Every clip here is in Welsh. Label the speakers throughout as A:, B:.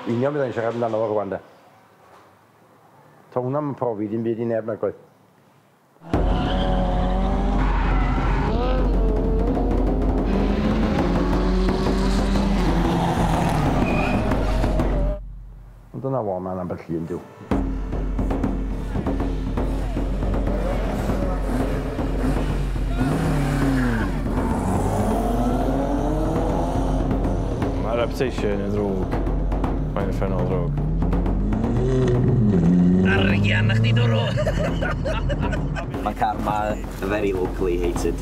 A: Union byddai'n siarad amdano fo rwan de. Ta hwnna yn profi dim byd i neb nag oedd? Ond dyna fo, mae'n ambell llun diw.
B: Mae reputation yn ddrwg. Mae'n ffynol ddrwg.
C: Arian na chdi dwrw!
D: Mae car ma very locally hated.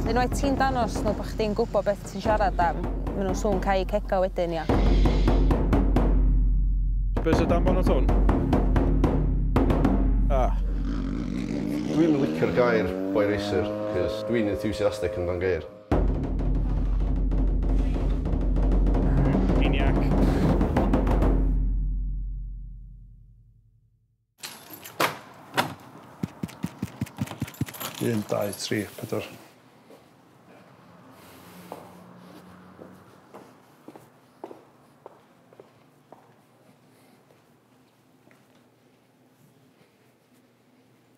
E: Unwaith ti'n danos nhw bod chdi'n gwybod beth ti'n siarad am, maen nhw'n sŵn cau cegau wedyn, ia.
B: Be sydd dan bonnet hwn? Ah.
F: Dwi'm yn licio'r gair boy racer, cos dwi'n enthusiastic amdan geir.
B: Maniac.
G: Un, dau, tri, pedwar.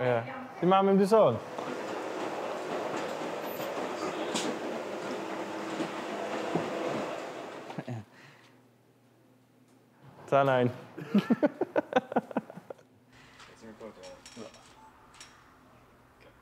G: Ie.
B: Di mam ddim di sôn? Ta nain.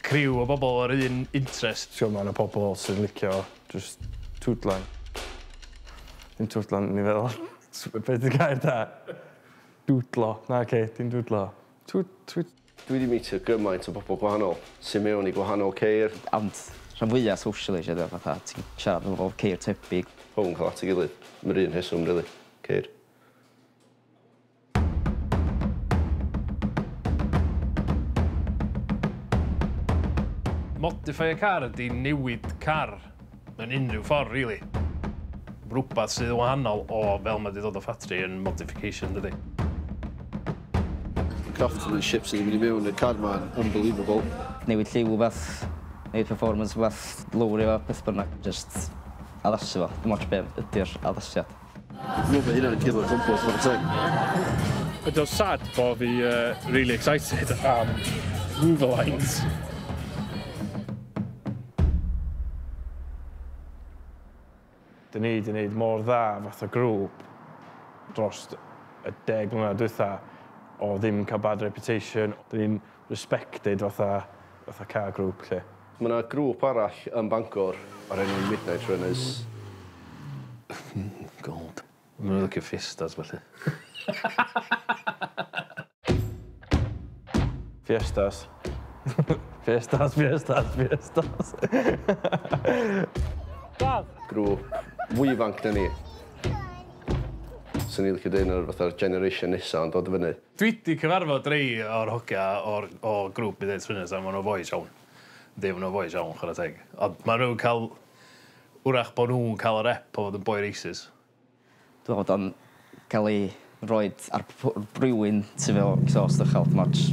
B: Criw o bobl o'r un interest. T'god ma' 'na pobol sy'n licio jyst twdlan. Dim twdlan o'n i feddwl. S- be' 'di gair da? Dwdlo. Na Kate dim dwdlo. Tw- twi-...
F: Dwi 'di mîtio gymaint o bobol gwahanol sy mewn i gwahanol ceir. Ond rhan
D: fwya socially 'lly 'de fatha ti'n siarad efo bobol ceir tebyg. Pobol yn ca'l at ei gilydd
F: am yr un rheswm rili. Ceir.
B: Modify a car ydy newid car mewn unrhyw ffordd rili. Rhywbeth sydd yn wahanol o fel mae wedi dod o ffatri yn modification dydy. The
F: craftsmanship sydd wedi mynd i mewn i'r car ma yn unbelievable. Newid lliw
D: wbath, newid performance wbath, lowri o, beth bynnag. Jyst addasu fo, dim ots be ydi'r addasiad. Dwi'n meddwl bod hynna'n
F: ciwt o gwmpas, chwarae teg. Ydy o'n sad
B: bo fi uh, really excited am Wolverines? Dyn ni wedi gwneud mor dda fath o grŵp dros y deg mlynedd dwytha o ddim cael bad reputation. Dyn ni'n respected fatha, fatha car grŵp lle. Mae 'na grŵp
F: arall yn Bangor o'r enw Midnight Runners. Hmm,
B: gold. Ma' nw'n licio fiestas felly. Fiestas. Fiestas fiestas fiestas.
F: Dad! Grŵp fwy ifanc na ni. Swn i licio deud nawr fatha'r generation nesa yn dod i fyny. Dwi 'di cyfarfod
B: rei o'r hogia o'r o grŵp Bydd Eids Friners a ma' n'w foes iawn. Yndi ma' n'w foes iawn chwara teg. Ond ma' n'w'n ca'l 'w'rach bo' nhw'n ca'l y rep o fod yn boi racist. Dwi me'wl bod
D: o'n ca'l ei roid ar p- p- rywun sy 'fo exhaust uchel dim ots.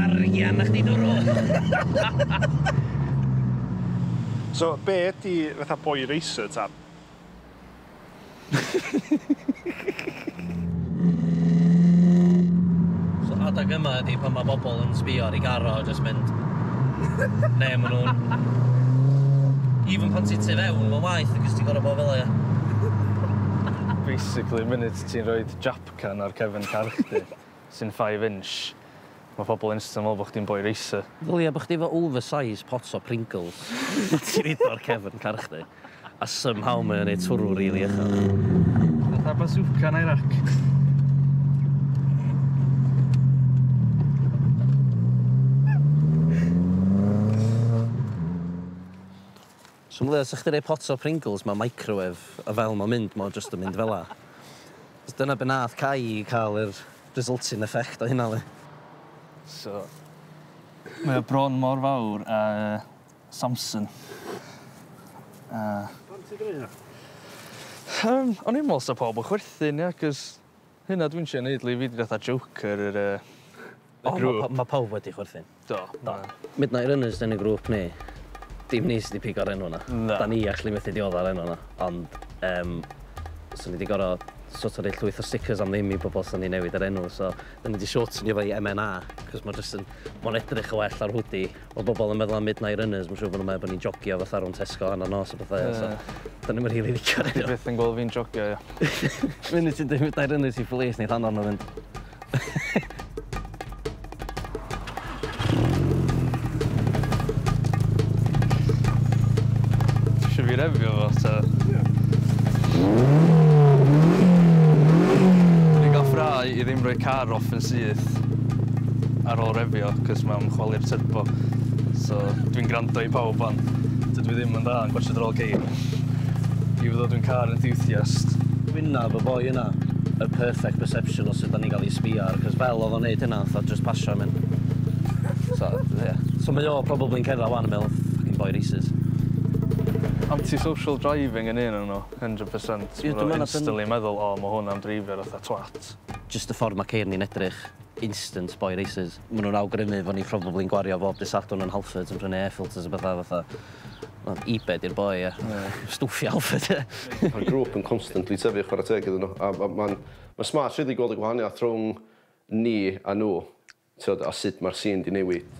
C: Arian na chdi dwrw!
G: So be ydi fatha boy racer ta?
C: So adag yma ydi pan ma' bobl yn sbio ar ei gar o a jyst mynd neu ma' nhw'n even pan ti'n tu fewn ma'n waeth achos ti'n gorfod
B: bod
C: fela ia? Basically
B: y munud ti'n rhoi Japcan ar cefn car chdi sy'n five inch ma' pobl instant'n meddwl bo' chdi'n boi racer. Ddylia bo' chdi efo
C: oversize pot o Pringles pan ti'n rhoid o ar cefn car chdi a somehow mae o'n neud twrw rili uchel. Fatha bazooka yn
B: Iraq.
C: So meddylia sa chdi'n rhoi pot o Pringles mewn microwave a fel mae'n mynd mae o jyst yn mynd fela. Achos dyna be nath Cai i cael yr resulting effect o hynna yli. So
B: mae o bron mor fawr â Samson a... Pam
G: ti'n deud hynna?
B: Yym o'n i'n meddwl sa pawb yn chwerthin ia 'c'os hynna dwi'n trio neud 'li fi 'di fatha Joker yr yy y grŵp. O ma' ma' pawb wedi
C: chwerthin. Do.
B: Do. Midnight Runners
C: yn y grŵp ni, dim ni sy 'di pigo'r enw 'na. Na. 'Dan ni actually methu
B: diodda'r
C: enw 'na ond yym so ni 'di gor'o' so't o' roi llwyth o stickers am ddim i bobol os 'sa ni newid yr enw so 'dan ni 'di shortwnio fo i MNA 'c'os ma' jyst yn ma'n edrych yn well ar hoodie. Ma' bobol yn meddwl am Midnight Runners ma' siŵr bo' nw'n meddwl bo' ni'n jogio fatha rownd Tesco hannar nos a petha ia so 'dan ni'm yn rili licio'r enw. Ti byth yn gwel fi'n jogio
B: ia. Funud ti'n
C: deu' Midnight Runners i police neith anfon n'w fynd.
B: Should be review of us. Uh... Yeah. Dwi'n gael i ddim rhoi car off yn syth ar ôl refio, cos mae'n chwalu'r turbo. So, dwi'n gwrando i pawb fan. Dydw i ddim yn dda yn gwasio'r ôl geir. I fod dwi'n car enthusiast. Gwynnaf y
C: boi yna yr perfect perception o sut da ni'n cael ei sbio ar, cos fel oedd o'n neud hynna, fatha just pasio am hyn. So, yeah. So mae o probably yn cedda wan yn meddwl, fucking boi racist. Anti-social
B: driving yn un o'n nhw, 100%. Ie, dwi'n meddwl na instantly
C: meddwl, o, mae
B: hwn am dreifio fatha twat. Just y ffordd mae
C: ceir ni'n edrych, instant boi racist. ma' nw'n awgrymu fo' ni probably'n gwario bob dy' Sadwrn yn Halfords yn prynu air filters a petha fatha wel Ebay 'di'r boi ia? Ie. Stwff i Halfords ia? Ma'r grŵp yn
F: constantly tyfu chwara teg iddyn n'w a ma' ma'n ma'n smart rili gweld y gwahaniath rhwng ni a n'w t'od a sud ma'r sîn 'di newid.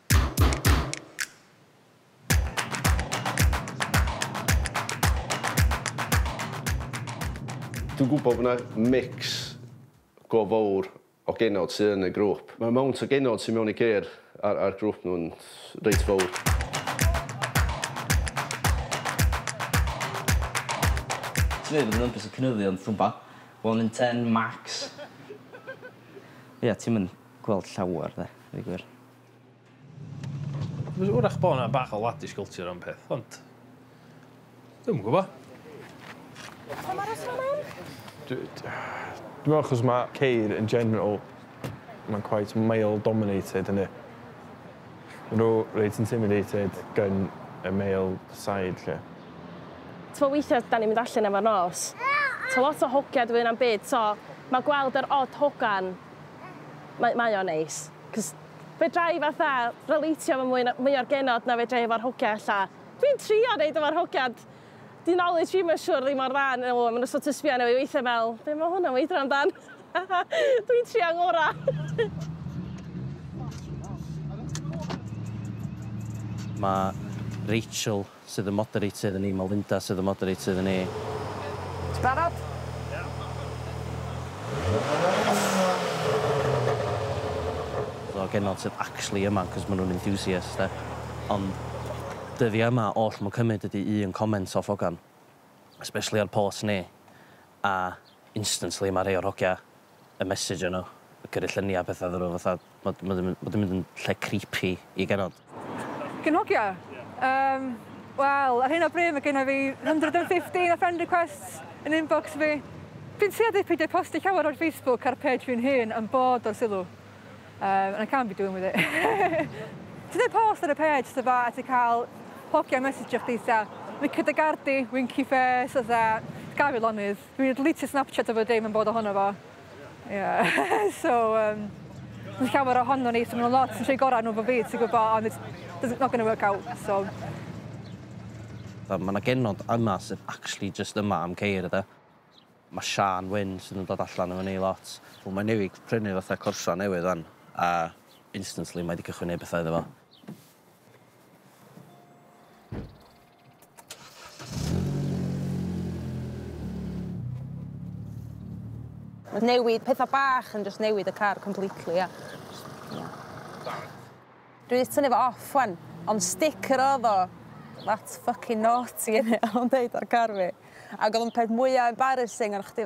F: Dwi'n gwybod bod 'na mix go fowr o genod sy yn y grwp. Mae amount o genod sy mewn i Care a'r a'r grwp nhw'n reit fowr.
D: Ti'n meddwl bod y numbers yn cynyddu ond dwi'm bo. One in ten max. Ia ti'm yn gweld llawer 'de, deu gwir.
H: Mae'n siŵr eich bod yna bach o ladish culture am peth, ond... Dwi'n yn gwybod. Pa mae'r rheswm am hyn?
B: Dwi'n meddwl achos mae ceir yn general, mae'n quite male dominated yn y. Mae nhw reit intimidated gan y male side lle. Ti'n
I: weithiau da ni'n mynd allan efo'r nos. Ti'n lot o hogiau dwi yna'n byd, so mae gweld yr odd hogan, mae, mae o'n neis. Cos fedra i fatha relatio efo mwy na, mwy o'r genod na fedra i efo'r hogia ella. Dwi'n trio neud efo'r hogiad. 'Di knowledge fi ma'n siŵr ddim mor dda â nhw, ma' nhw sort of sbio arno fi weithia fel, be' ma' hwn am weithio amdan? Dwi'n trio ngora.
C: Mae Rachel Sydd y moderator yn ni? Mae Linda sydd y moderator yn ni. Ti
J: barod?
C: Ddo genod sydd actually yma cos ma nhw'n enthusiasts de. Ond dyddia yma oll ma'n cymyd ydi un comment off hogan. Especially ar posts ni. A instantly ma rhei o'r hogia y message yno, y gyrru lluniau a pethau iddyn nhw, fatha, ma' ma' 'di ma' 'di mynd yn lle creepy i genod. Cyn hogia?
K: Yym, wel, ar hyn o bryd mae genna fi 115 o friend requests yn inbox fi. Dwi'n tueddu i peidio postio llawer ar Facebook a'r page fi'n hun am bod o'r sylw. Yym, and I can't be doing with it. Ti'n dweud post ar y page sydd dda a ti'n cael hogia mesijio chdi fatha, wicked a gardi, winky face, fatha, gad fi lonydd. Dwi'n deleteio Snapchat efo dim yn bod ohono fo. Ie. So um, mae llawer ohono ni, so maen nhw'n lot yn trwy gorau nhw fo fi, ti'n gwybod, ond it's, it's not going to work out, so...
C: Mae yna genod yma sydd actually just yma am ceir, ydy. Mae Sian Wyn sydd yn dod allan efo ni lot. Wel, mae newid prynu fatha corsa newydd fan, a instantly mae wedi cychwyn neud bethau iddo fo.
E: Mae newid pethau bach yn just newid y car completely, ia. Ia. Dwi 'di tynnu fo off wan, ond sticker oedd o. That's fucking naughty, innit? O'n deud ar car fi. Ac oedd o'n peth mwya embarrassing, o'n chdi...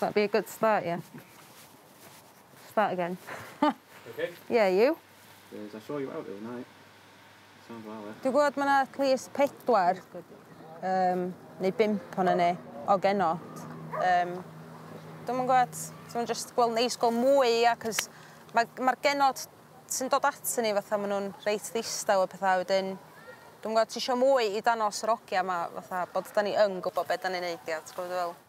E: That'd be a good start yeah. Start again. You
L: okay? Yeah, you? Cos I saw
E: you
L: out the other night. Sounds well there. Dwi gwbod ma' 'na at least
E: pedwar yym neu bump onan ni o genod. Yym dwi'm yn gwbod, so ma'n jyst gweld neis gweld mwy ia 'c'os ma' ma'r genod sy'n dod atyn ni fatha ma' nhw'n reit ddistaw a petha wedyn dwi'm yn gwbod tisio mwy i danos yr ogia 'ma fatha bod 'dan ni yn gwbod be' 'dan ni'n neud ia ti'n gwbod be' dwi fe'wl?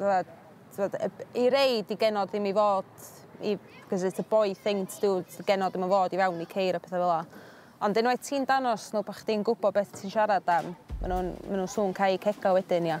E: Wel, t'mod y b- i rei 'di genod ddim i fod i 'c'os it's a boy thing to do s- genod ddim yn fod i fewn i ceir a petha fel 'a. Ond unwaith ti'n danos n'w bo' chdi'n gwbo beth ti'n siarad am ma' nw'n ma' nw'n sŵn cau cega wedyn ia.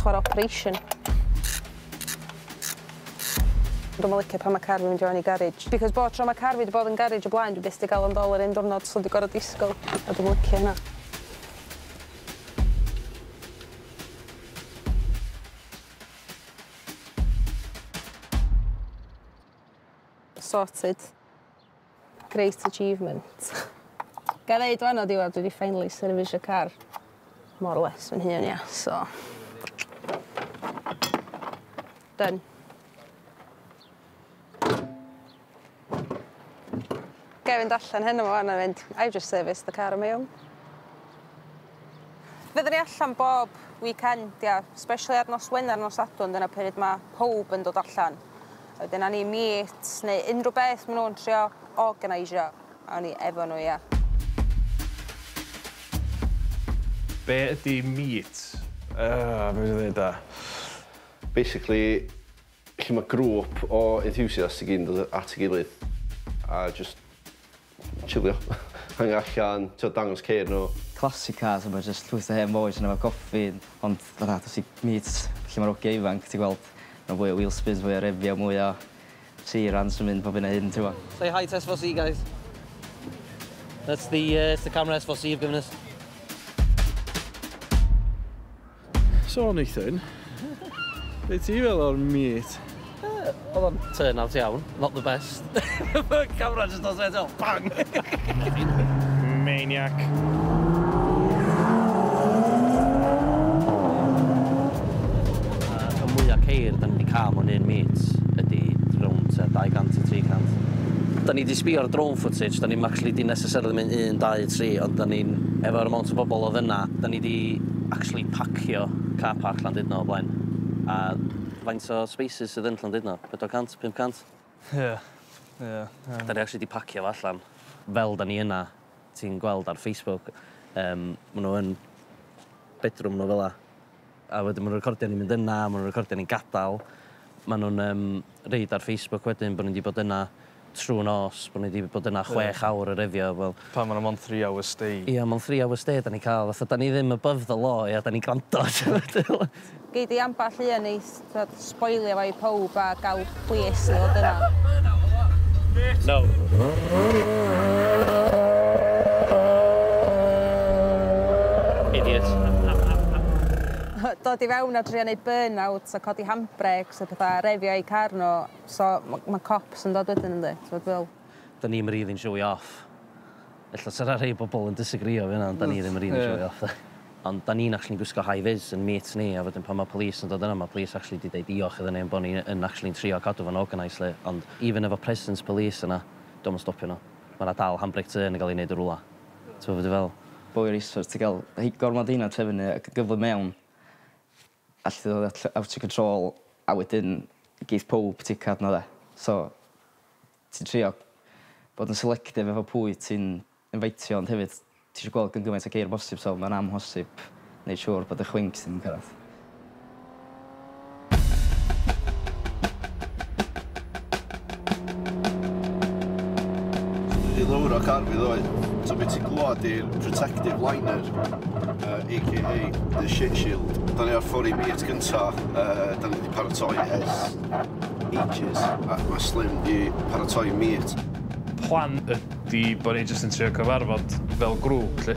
E: Chwar operation. Dwi'm yn licio pan ma' car fi'n mynd i fewn i garej because bob tro ma' car fi 'di bod yn garej o blaen dwi byth 'di ga'l o yn ddol yr un diwrnod so dwi gor'o' disgwl a dwi'm yn licio hynna. Sorted. Great achievement. Ga i ddeud wan o diwedd dwi di finally service y car more or less fy hun ia so done. Ga i fynd allan heno wan a mynd I've just serviced the car on my own. Fyddwn ni allan bob weekend, ia, especially ar nos Wener, nos Sadwrn, dyna pryd mae pawb yn dod allan. A wedyn awn ni meet neu unrhyw beth maen nhw'n trio organisio, awn ni efo nhw, ia.
H: Be ydy meet? Yy,
B: be dwi ddeud ta? Basically,
F: lle mae grŵp o enthusiasts i gyd yn dod at ei gilydd a jyst Chilio. Hango allan, t'od dangos ceir n'w. Classic cars a ma'
D: jyst llwyth o hen bois yno efo coffi ond fatha os ti meet lle ma'r ogia ifanc ti'n gweld ma' fwy o wheel spins fwy o refio mwy o seirans yn mynd pob hyn a hyn t'mo'? Say hi to SVC guys.
C: That's the yy it's the camera SVC have given us.
B: So Nathan, be ti fel o'r meet? Uh, oedd o'n
C: turn out iawn, not the best. Camera just does it all, bang! Maniac. Y mwyaf ceir da ni wedi cael mewn un meet ydy rownd 200 i 300. Da ni wedi sbio'r drone footage, da ni'n actually di necessarily mynd 1, 2, 3, ond da ni'n, efo'r amount o bobl oedd yna, da ni wedi actually pacio car park Llandudno o blaen. A faint o spaces sydd yn Llandudno? 400? 500? Ie. Ie. Ie. 'Da ni actually 'di pacio fo allan. Fel 'da ni yna, ti'n gweld ar Facebook, yym, ma' nhw yn bedroom nhw fela. A wedyn ma' nhw'n recordio ni'n mynd yna, ma' nhw'n recordio ni'n gadal. Ma' nhw'n yym roid ar Facebook wedyn bo' ni 'di bod yna. trw nos bo ni 'di bod yna chwech awr yr heddiw wel... Pam ma' 'na mond three hours
B: stay? Ia mond three hours stay
C: 'da ni'n ca'l fatha 'da ni ddim above the law ia 'da ni'n grando t'mod dwi me'wl.
E: Gei di ambell un i t'mod sboilio fo i powb a ga'l plis i fod yna. No.
C: Idiot.
E: Dod i fewn a trio neud burn out a codi handbrêcs a petha a refio eu car n'w. So ma ma cops yn dod wedyn yndi? T'mod fel. Da ni'm rili'n
C: show i off. Ella sa 'na rhei bobol yn disagreeio efo hynna ond da ni ddim yn rili show i off 'de. Ond da ni'n actually'n gwisgo high vis yn meets ni a wedyn pan ma police yn dod yna ma police actually 'di deud diolch iddon ni am bo ni yn actually'n trio cadw fo'n organised 'lly ond even efo presence police yna 'di o'm yn stopio n'w. Ma 'na dal handbrake turn yn ga'l 'i neud yn rwla. T'mo be dwi feddwl? Boi o'r isfar ti ga'l
D: rhei gormod o heina trefnu ac yn gyflym mewn. Allet ti ddod at out of control a wedyn geith powb ticio arno fe. So ti'n trio bod yn selective efo pwy ti'n infaitio ond hefyd ti isio gweld gan gymaint o geir â bosib so mae'n amhosib neud siŵr bod y chwinc ddim yn cyrraedd.
F: Di lawr o car fi ddoe. So beth ti'n glwad i'r protective liner, uh, aka the shit shield. Da ni ar ffori meet gynta, uh, da ni wedi paratoi ers ages, a mae Slim wedi paratoi meet. Plan
H: ydy bod ni jyst yn trio cyfarfod fel grŵp, lle.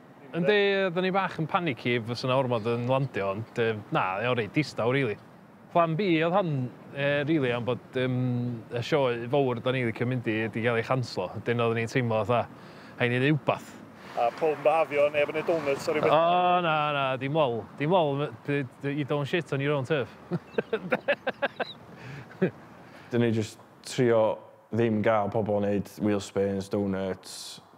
H: Yndi, oeddwn i bach yn panicky fysa 'na ormod yn landio ond yym na, o'dd o'n reit distaw rili. Plan B oedd hon yy rili am bod yym y sioe fowr 'dan ni'n licio mynd i 'di ga'l ei chanslo, wedyn oeddwn i'n teimlo fatha rhai' ni neu' wbath. A powb yn byhafio,
G: neb yn neud donuts a ryw betha? O na na, dim
H: ol, dim ol m- d- d- you don't shit on your own turf.
B: Dyn ni jyst trio ddim ga'l pobol neud wheel spins, donuts,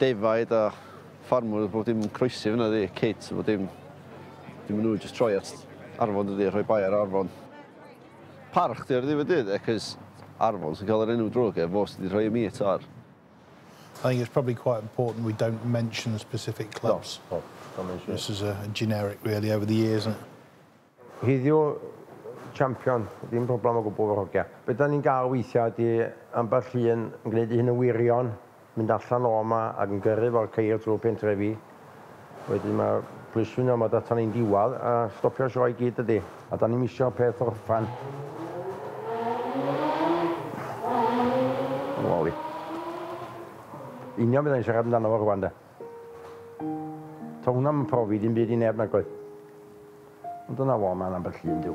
F: defaid a ffarmwr a bob dim yn croesi fynna ydi? Kids a bob dim. Dim yn ŵyl jyst troi at arfon dydi a rhoi bai ar arfon. Parch 'di o ar ddiwedd dydd e 'c'os arfon sy'n ca'l yr enw drwg e fo sy 'di rhoi y meat ar. I think
M: it's probably quite important we don't mention specific clubs. No, no. Don't mention it. This is a generic really over the years isn't it? Heddiw,
A: champion, dim problem o gwbl efo'r hogia. Be da ni'n gael weithia ydi ambell un yn gneud ei hun yn wirion, mynd allan o ma ac yn gyrru fo'r ceir trwy'r pentrefi. Wedyn mae'r plismyn yn ormod atan ni'n diwadd a stopio'r sioe i gyd dydi? A da ni'm isio'r peth orffan. Wali. Union be da ni'n siarad amdano fo rwan de. Ta hwnna ddim yn profi dim byd i neb nag oedd? Ond dyna fo, mae'n ambell un dyw.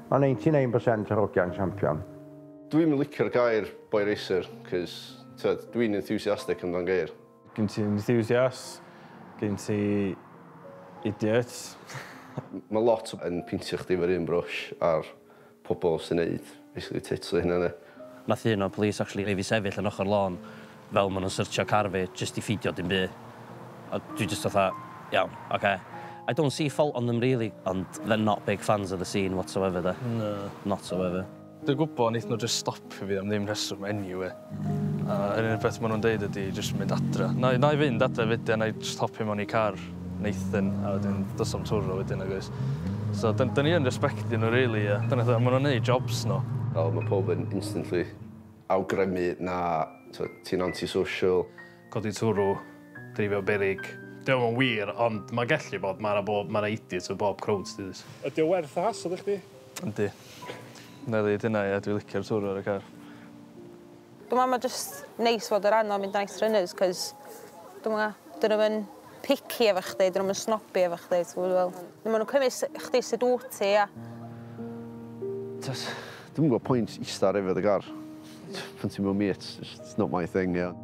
A: Mae 99 percent yr hogiau'n champion. Dwi'm yn licio'r
F: gair boy racer cos t'wod dwi'n enthusiastic amdan geir. Gen ti
B: enthusiasts, gen ti idiots.
F: Ma' lot yn peintio chdi efo'r un brush a'r pobol sy'n neud basically tits o'u hunan ia. Nath un o'r police
C: actually neu' fi sefyll yn ochor lôn fel ma' nw'n syrtsio car fi jyst i ffidio dim by'. A dwi jyst fatha iawn oce. I don't see fault on them really ond they're not big fans of the scene whatsoever 'de. Na. Not so ever. Dwi gwbo neith nw
B: jyst stopio fi am ddim rheswm eniwe. A yr unig beth ma' nhw'n deud ydi jyst mynd adra. Nai nai fynd adra wedyn nai jyst hopio mewn i car Nathan a wedyn dos am twrw wedyn nagoes? So dyn- dyn ni yn respectio nhw rili a dyna beth a ma' nhw'n neud jobs nhw. Wel ma' pawb yn
F: instantly awgrymu na t'od ti'n anti-social. Codi twrw,
H: dreifio berig. Dio'm yn wir ond ma' gellu bod ma' 'na bob ma' 'na idiots yn bob crowd ti does? Ydi o werth y hassle
N: i chdi? Yndi.
B: Nai ddeud hynna ia dwi licio'r twrw ar y car. Dwi'n
E: meddwl mae jyst neis fod o ran o mynd yn nice runners 'c'os dwi'm yn gwbo 'dyn nw'm yn picky efo chdi 'dyn nw'm yn snobby efo chdi ti gwbo dwi fe'wl. Ma' nw'n cymyd s- chdi sud wt ti a... T'od
F: dwi'm yn gweld pwynt ista ar efydd y gar pan ti mewn mêts jyst it's not my thing ia.